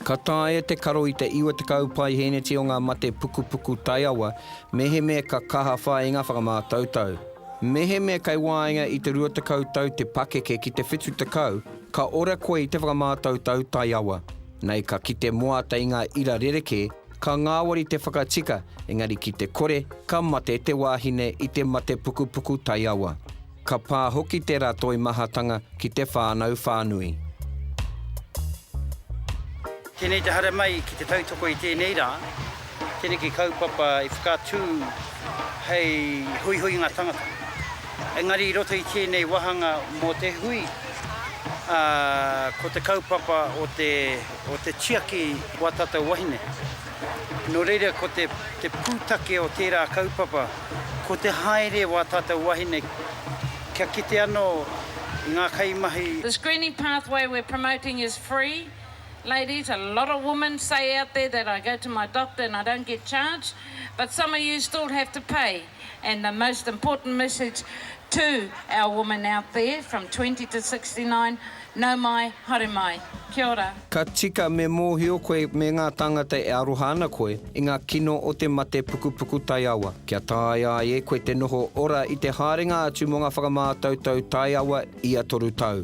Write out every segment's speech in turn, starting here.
Ka taea te karo i te 90 paihēneti o ngā mate pukupuku taiawa mehemea ka kaha whāinga whakamātautau. Mehemea kei waenga i te 20 tau te pakeke ki te 70, ka ora koe i te whakamātautau taiawa. Nei ka kite moata i ngā ira rerekē, ka ngāwari te whakatika, engari ki te kore, ka mate te wāhine i te mate pukupuku taiawa. Ka pā hoki tērā toimahatanga ki te whānau whānui. Tēnei te haere mai ki te tautoko i tēnei rā, tēneki kaupapa i whakaatu hei huihuinga tangata. Engari i roto i tēnei wāhanga mō te hui, ko te kaupapa o te tiaki wā tātou wahine. Nō reira, ko te pūtake o tērā kaupapa, ko te haere wā tātou wahine kia kite anō ngā kaimahi. The screening pathway we're promoting is free, ladies, a lot of women say out there that I go to my doctor and I don't get charged, but some of you still have to pay. and the most important message to our women out there from 20 to 69, nau mai, haere mai. Kia ora. Ka tika me mōhio koe me ngā tāngata e aroha ana koe i ngā kino o te mate pukupuku taiawa. Kia taea ai e koe te noho ora i te haerenga atu mō ngā whakamātautau taiawa ia toru tau.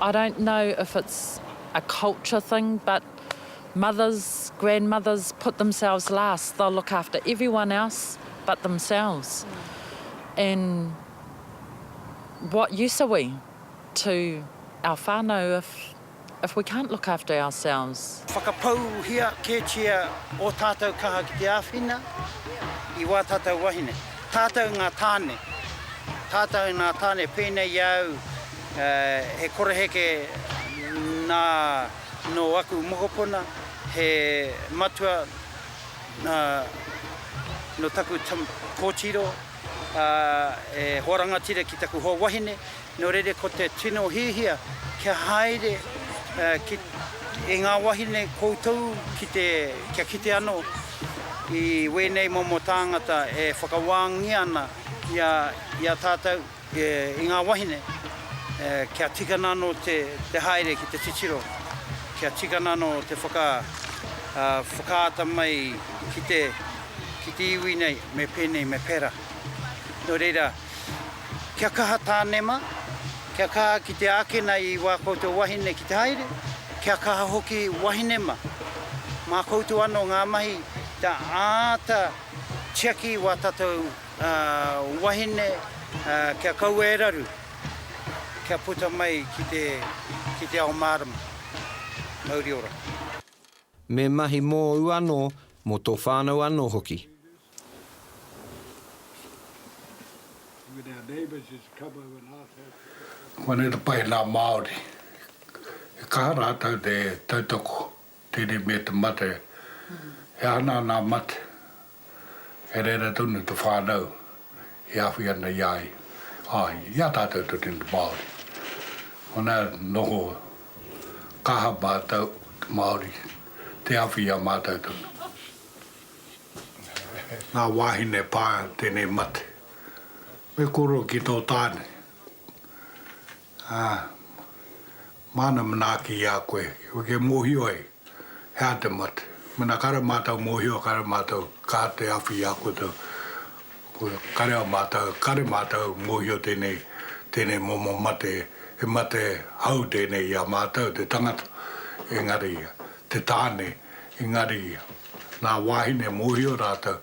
I don't know if it's a culture thing but mothers, grandmothers put themselves last, they'll look after everyone else but themselves and what use are we to our whanau if if we can't look after ourselves. Whakapauhia kētia ō tātou kaha ki te āwhina i wā tātou wahine, tātou ngā tāne, tātou ngā tāne pēnei i a au, He koreheke nā nō aku mokopuna, he matua nō taku kōtiro, ā, e hoa rangatira ki taku hoa wahine, nō reira ko te tino hiahia kia haere e ngā wāhine koutou kia kite anō i wēnei momo tāngata e whakawāngia ana i a tātou. I ngā wahine, kia tikana anō te haere ki te titiro, kia tikana anō te whakaata mai ki te iwi nei, me pēnei, me pērā. Nō reira, kia kaha tānema, kia kaha ki te ākena i wā koutou wahine ki te haere, kia kaha hoki wahinema, mā koutou anō ngā mahi kia āta tiaki i wā tātou. Ngā wahine kia kaua e raru, kia puta mai ki te ao mārama. Mauri ora. Me mahi mōu anō, mō tō whānau anō hoki. Ko ēnei te pai nā Māori. He kaha rātou te tautoko Tere me te mate, he aha nā nā mate? He reira tonu te whānau e awhi ana i a ia, āe, i a tātou te tini Māori. Hona noho kaha mātou, te Māori, te awhi i a mātou tonu. Ngā wāhine pā tēnei mate, me koro ki tō tāne. Ā, māna manaaki i a koe, kia mōhio ai, he aha te mate. Mēnā kāre mātou mōhio, kāre mātou ka te awhi i a koutou, kāre au mātou, kāre mātou mōhio tēnei, tēnei momo mate, he mate hou tēnei i a mātou, te tangata, engari ia, te tāne, engari ia, nā wāhine mōhio rātou,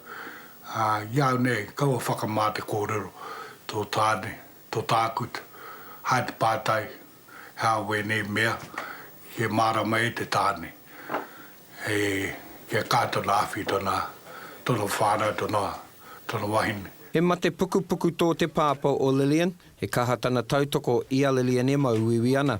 ā, i a au nei, kaua whakamā te kōrero, tō tāne, to tākut, hae te pātai, hea wēnei mea, he mārama e te tāne, he, kia kaha tana awhi, tana, tana whānau, tana, tana wahine. He mate pukupuku tō te pāpā o Lillian, he kaha tana tautoko i a Lillian e mauiui ana.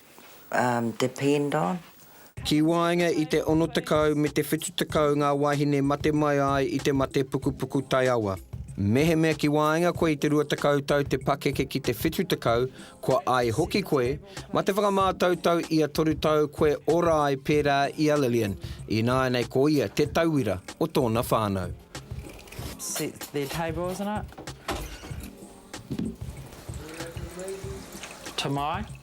depend on. Ki waenga i te 60 me te 70 ngā wāhine mate mai ai i te mate pukupuku taiawa. Mehemea ki waenga koe i te 20 tau te pakeke ki te 70, kua ai hoki koe, ma te whakamātautau ia 3 tau koe ora ai pērā i a Lillian, ināianei ko ia te tauira o tōna whānau. Set their table, isn't it? Tamai.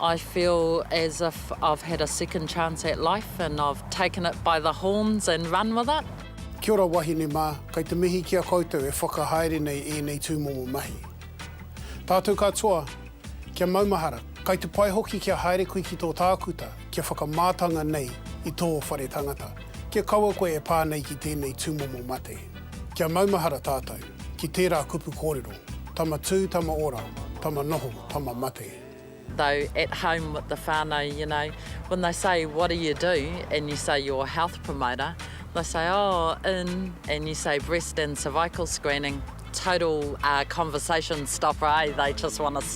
I feel as if I've had a second chance at life and I've taken it by the horns and run with it. Kia ora wahine mā, kei te mihi ki a koutou e whakahaere nei ēnei tūmomo mahi. Tātou katoa, kia maumahara, kai te pai hoki kia haere koe ki tō tākuta kia whakamātanga nei i tō whare tangata, kia kaua koe e pā nei ki tēnei tūmomo mate. Kia maumahara tātou. ki tērā kupu kōrero, tama tū, tama ora, tama noho, tama mate. Though at home with the whānau, you know, when they say what do you do and you say you're a health promoter, they say oh in and you say breast and cervical screening, total conversation stopper, eh, they just want to.